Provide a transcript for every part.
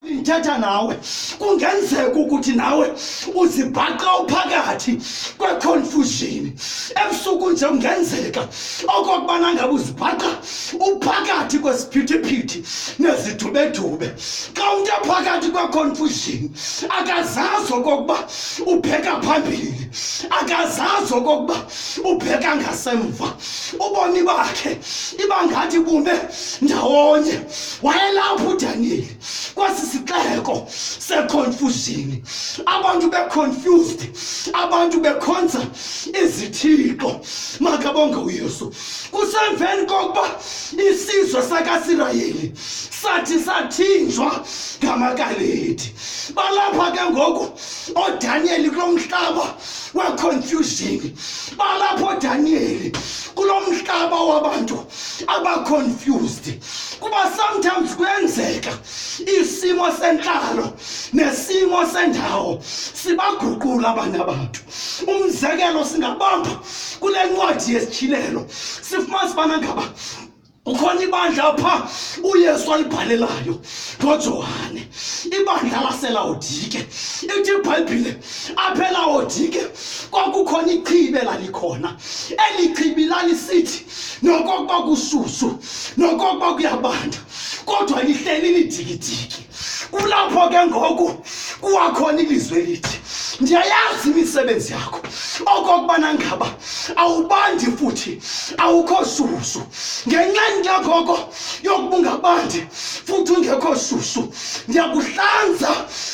ndithetha nawe kungenzeka ukuthi nawe uzibhaqa uphakathi kweconfusion ebusuku nje kungenzeka okokubana ngabe uzibhaqa uphakathi kwesiphithiphithi nezidubedube xa umntu ephakathi kweconfusion akazazi okokuba ubheka phambili akazazi okokuba ubheka ngasemva ubomi bakhe iba ngathi bume ndawonye wayelapho udaniyeli kwesi sixeko seconfusion abantu beconfused abantu bekhonza izithixo makabonge uyesu kusemveni kokuba isizwe sakasirayeli sathi sathinjwa ngamakaledi balapha ke ngoku odaniyeli kulo mhlaba weconfusion balapha odaniyeli kulo mhlaba wabantu abaconfused kuba sometimes kuyenzeka isimo sentlalo nesimo sendawo sibaguqula abanye abantu umzekelo singabamba kule ncwadi yesitshilelo sifumana sibana ngaba ukhona ibandla pha uyesu ayibhalelayo ngojohane ibandla laselawodike ithi ibhayibhile aphelawodike kwakukhona ichibe lalikhona eli chibi lalisithi nokokuba kushushu nokokuba kuyabanda kodwa lihleli lidikidiki kulapho ke ngoku kuwakhona ilizwi elithi ndiyayazi imisebenzi yakho okokubana ngaba awubandi futhi awukho shushu ngenxa ndiyakoko yokuba ungabandi futhi ungekho shushu ndiyakuhlanza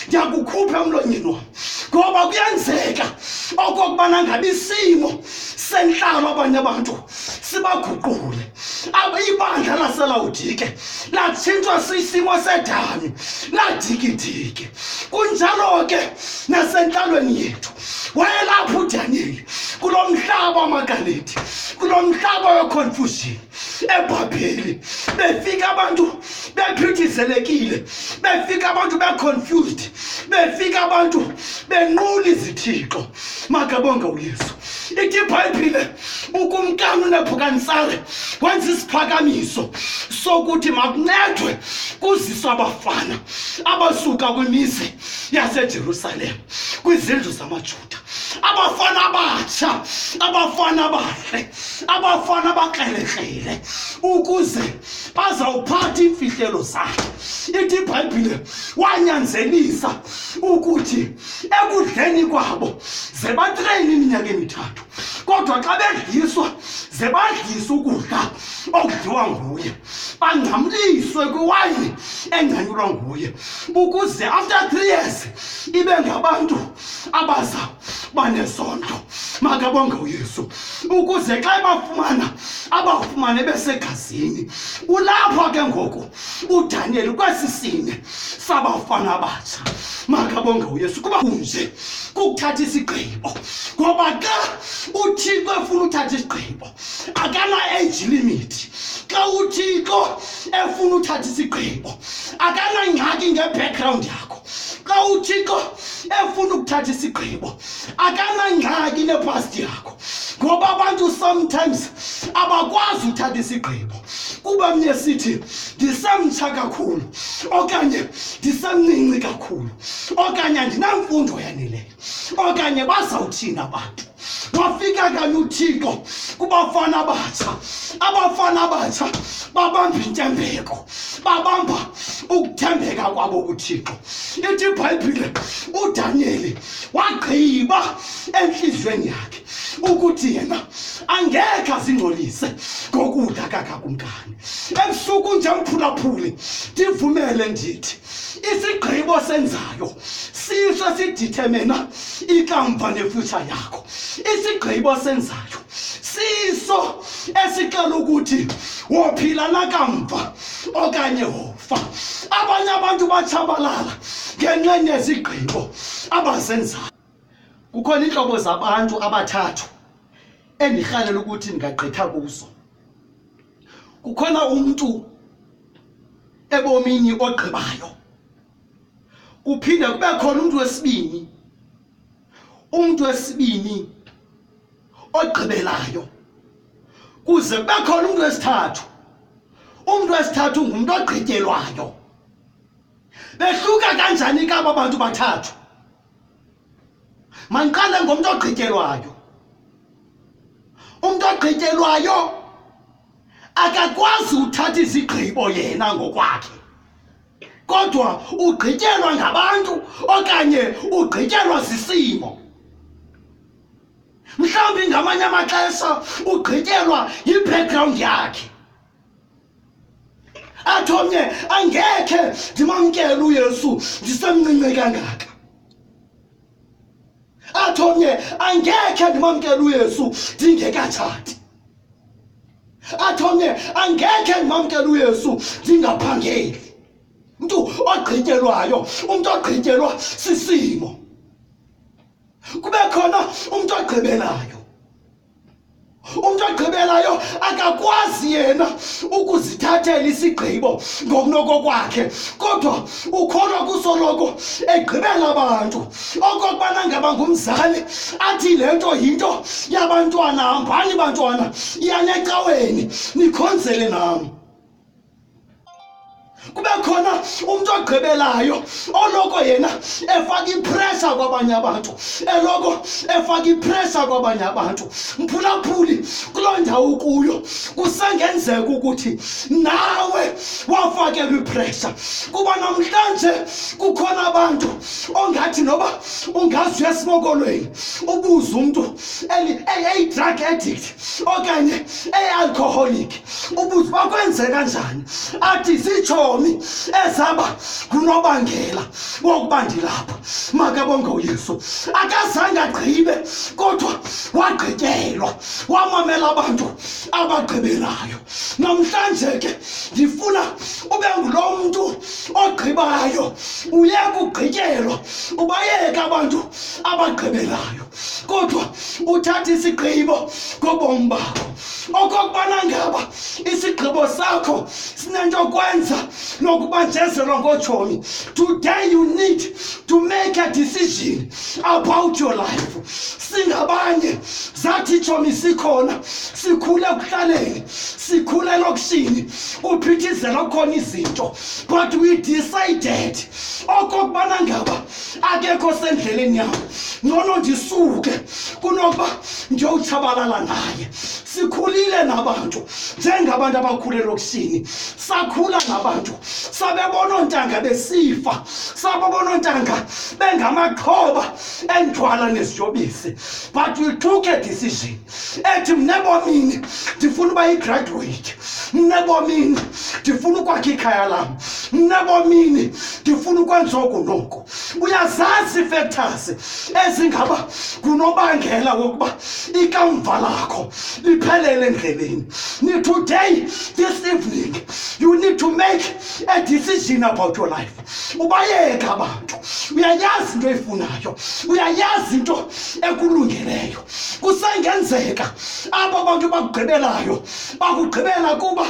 ndiyakukhupha emlonyeni wam ngoba kuyenzeka okokubana ngabe isimo sentlalo abanye abantu sibaguqule ibandla laselawudike latshintshwa sisimo sedami ladikidike kunjalo ke nasentlalweni yethu wayelapho udaniyeli kulo mhlaba wamagalethi kulo mhlaba weconfusion ebhabheli befika abantu bephithizelekile befika abantu beconfused befika abantu benqula izithixo makabonge uyesu ithi ibhayibhile ukumkani unebhukanisare wenza isiphakamiso sokuthi makuncedwe kuziswa abafana abasuka kwimizi yasejerusalem kwizindlu zamajuda abafana abatsha abafana abahle abafana abakrelekrele ukuze bazawuphatha iimfihlelo zakhe ithi ibhayibhile wanyanzelisa ukuthi ekudleni kwabo ze batreyine iminyaka emithathu kodwa xa bedliswa ze badlise ukudla okudliwa nguye bangcamliswe kwiwayini engcanyulwa nguye ukuze after three years ibe ngabantu abaza banezondo makabonge uyesu ukuze xa ebafumana abafumane besegazini kulapho ke ngoku udaniyeli kwesi sine sabafana abatsha makabonge uyesu kuba kunje kukuthatha isigqibo ngoba xa uthixo efuna uthatha isigqibo akana-age limit xa uthixo efuna uthatha isigqibo akanangxaki ngebackground yakho xa uthixo efuna ukuthatha isigqibo akanangxaki nepasti yakho ngoba abantu sometimes abakwazi uthatha isigqibo kuba mnye sithi ndisemtsha kakhulu okanye ndisemninci kakhulu okanye andinamfundo yaneleyo okanye bazawuthini abantu wafika kanye uthixo kubafana abatsha abafana abatsha babamba intembeko babamba ukuthembeka kwabo kuthixo ithi ibhayibhile udaniyeli wagqiba entliziyweni yakhe ukuthi yena angekhe azingcolise ngokudla kakakumkani ebusuku nje mphulaphuli ndivumele ndithi isigqibo senzayo siso sidithemena ikamva nefutsha yakho isigqibo senzayo siso esixela ukuthi wophila nakamva okanye wofa abanye abantu batshabalala ngenxa nezigqibo abazenzayo kukhona iintlobo zabantu abathathu endirhalela ukuthi ndingagqitha kuzo kukhona umuntu ebomini ogqibayo kuphinde kube khona umuntu wesibini umuntu wesibini ogqibelayo kuze kube khona umuntu wesithathu umuntu wesithathu ngumuntu ogqityelwayo behluka kanjani kaba bantu bathathu mandiqale ngomntu ogqityelwayo umntu ogqityelwayo akakwazi uthatha izigqibo yena ngokwakhe kodwa ugqityelwa ngabantu okanye ugqityelwa sisimo mhlawumbi ngamanye amaxesha ugqityelwa yi-background yakhe athi omnye angekhe ndimamkele uyesu ndisemncinci kangaka athi omnye angekhe ndimamkele uyesu ndingekatshati athi omnye angekhe ndimamkele uyesu ndingaphangeli umntu ogqityelwayo umntu ogqityelwa sisimo kube khona umntu ogqibelayo umntu ogqibelayo akakwazi yena ukuzithathela isigqibo ngokunokokwakhe kodwa ukholwa kusoloko egqibela abantu okokubana ngaba ngumzali athi le nto yinto yabantwana hambani bantwana iyanecaweni nikhonzele nam kube khona umntu ogqibelayo oloko yena efaka ipressure kwabanye abantu eloko efaka ipressure kwabanye abantu mphulaphuli kuloo ndawo kuyo kusengenzeka ukuthi nawe wafakelwa ipressure kuba namhlanje kukhona abantu ongathi noba ungazi uyesimokolweni ubuze umntu eyi-drug addict okanye eyi-alcoholic ubuze uba kwenzeka njani athi zitshomi ezaba ngunobangela wokuba ndilapha makabonge uyesu akazange agqibe kodwa wagqityelwa wamamela abantu abagqibelayo namhlanje ke ndifuna ube ngulo mntu ogqibayo uye kugqityelwa ubayeke abantu abagqibelayo kodwa uthathe isigqibo ngobomi bakho okokubana ngaba isigqibo sakho sinento yokwenza nokubanjezelwa ngotshomi today you need to make a decision about your life singabanye zathi itshomi sikhona sikhule ekuhlaleni sikhule elokishini kuphithizela kukhona izinto but we decided okokubana ngaba akekho sendleleni yam ngcono ndisuke kunokuba ndiyowutshabalala naye sikhulile nabantu njengabantu abakhule lokishini sakhula nabantu sabebona oontanga besifa sabebona oontanga bengamaxhoba endithwala neziyobisi but we took a decision ethi mna ebomini ndifuna uba yigraduweyiti mna ebomini ndifuna ukwakha ikhaya lam mna ebomini ndifuna ukwenza oku noku uyazazi ifektors ezingaba ngunobangela wokuba ikamva lakho liphelele endleleni nitoday this evening you need to make a decision about your life ubayeka abantu uyayazi into eyifunayo uyayazi into ekulungeleyo kusengenzeka aba bantu bakugqibelayo bakugqibela kuba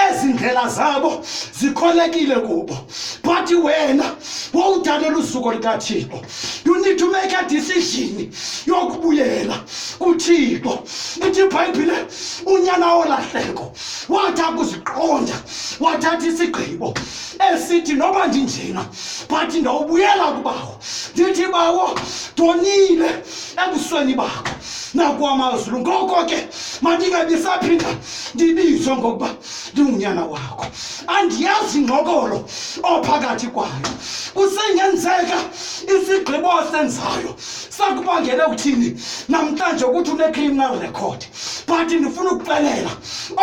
ezi ndlela zabo zikholekile kubo but wena wowudalela usuku likathixo you need to make a decision yokubuyela kuthixo ithi ibhayibhile unyana wolahleko wathi akuziqonda wathatha isigqibo esithi noba ndinjena but ndawubuyela kubawo ndithi bawo ndonile ebusweni bakho nakwamazulu ngoko ke mandingabisaphinda ndibizwe ngokuba ndingunyana wakho andiyazi ngxokolo ophakathi kwayo kusengenzeka isigqibo osenzayo sakubangele ukuthini namhlanje ukuthi une-criminal record but ndifuna ukuxelela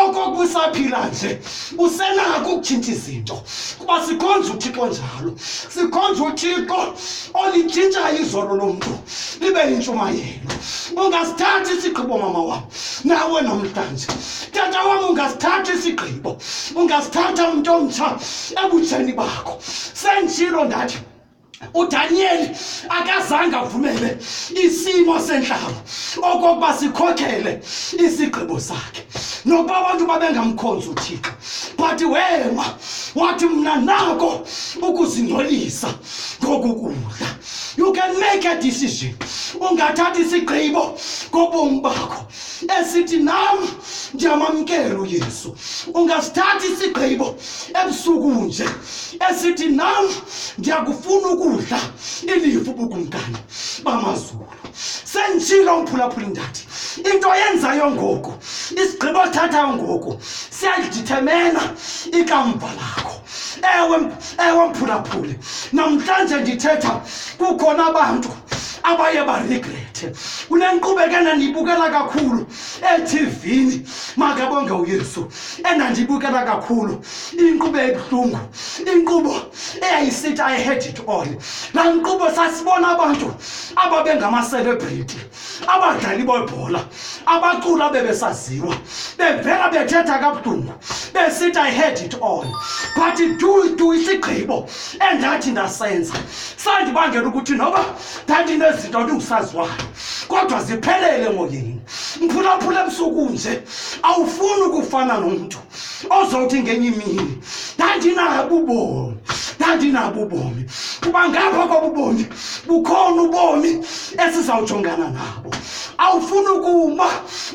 okokusaphila nje usenako ukutshintsha izinto kuba sikhonza uthixo njalo sikhonza uthixo olitshintshayo izolo lomntu libe yintshumayelo ungasithathi isigqibo mama wam nawe namhlanje tata wam ungasithathi isigqibo ungasithatha umntu omtsha ebutsheni bakho sendishilo ndathi uDaniyeli akazange avumele isimo senhlaba okokuba sikhokhele isigqibo sakhe nokuba abantu babengamkhonzi uThixo but wema wathi mna nako ukuzingcolisa ngokukudla you can make a decision ungathatha isigqibo ngobomi bakho esithi nam ndiyamamkela uyesu ungasithatha isigqibo ebusuku nje esithi nam ndiyakufuna ukudla ilifu ubukumkani bamazulu senditshilo umphulaphula indathi into yenzayo ngoku isigqibo sithathayo ngoku siyalidithemena ikamva lakho ewe ewe mphulaphuli namhlanje ndithetha kukhona abantu abaye baregrethe kunenqubekela ndiyibukela kakhulu ethivini makabonge uyesu endandiyibukela kakhulu inkqubo ebuhlungu inkqubo eyayisithi i had it all laa nkqubo sasibona abantu ababengamaselebrity abadlali bebhola abacula bebesaziwa bevela bethetha kabudunga besithi i had it all but du du isigqibo endathi ndasenza sandibangela ukuthi noba ndandinezinto ndingusaziwayo kodwa ziphelele moyeni mphulaphula ebusuku nje awufuni ukufana nomntu ozawuthi ngenye imini ndandinabo ubomi ndandinabo ubomi kuba ngapha kwabo ubomi bukhona ubomi esizawujongana nabo awufuni ukuma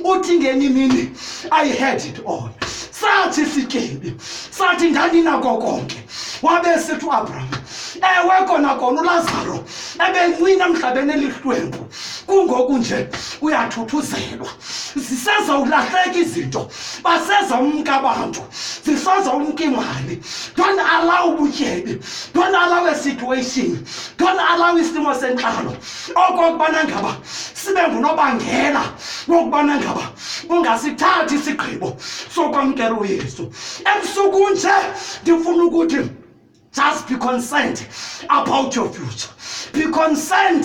uthi ngenye imini i had it all sathi sityebi sathi ndandinako konke wabe sithi uabraham ewe kona kona ulazaro ebencina emhlabeni elihlwempu kungoku nje uyathuthuzelwa zisezawulahleka izinto baseza umka abantu zisoza umka imali don't allow ubutyebi don't allow a situation don't allow isimo sentlalo okokubana ngaba sibe ngunobangela wokubana ngaba ungasithathi isigqibo sokwamkela uyesu ebusuku nje ndifuna ukuthi Just be concerned about your future. Be concerned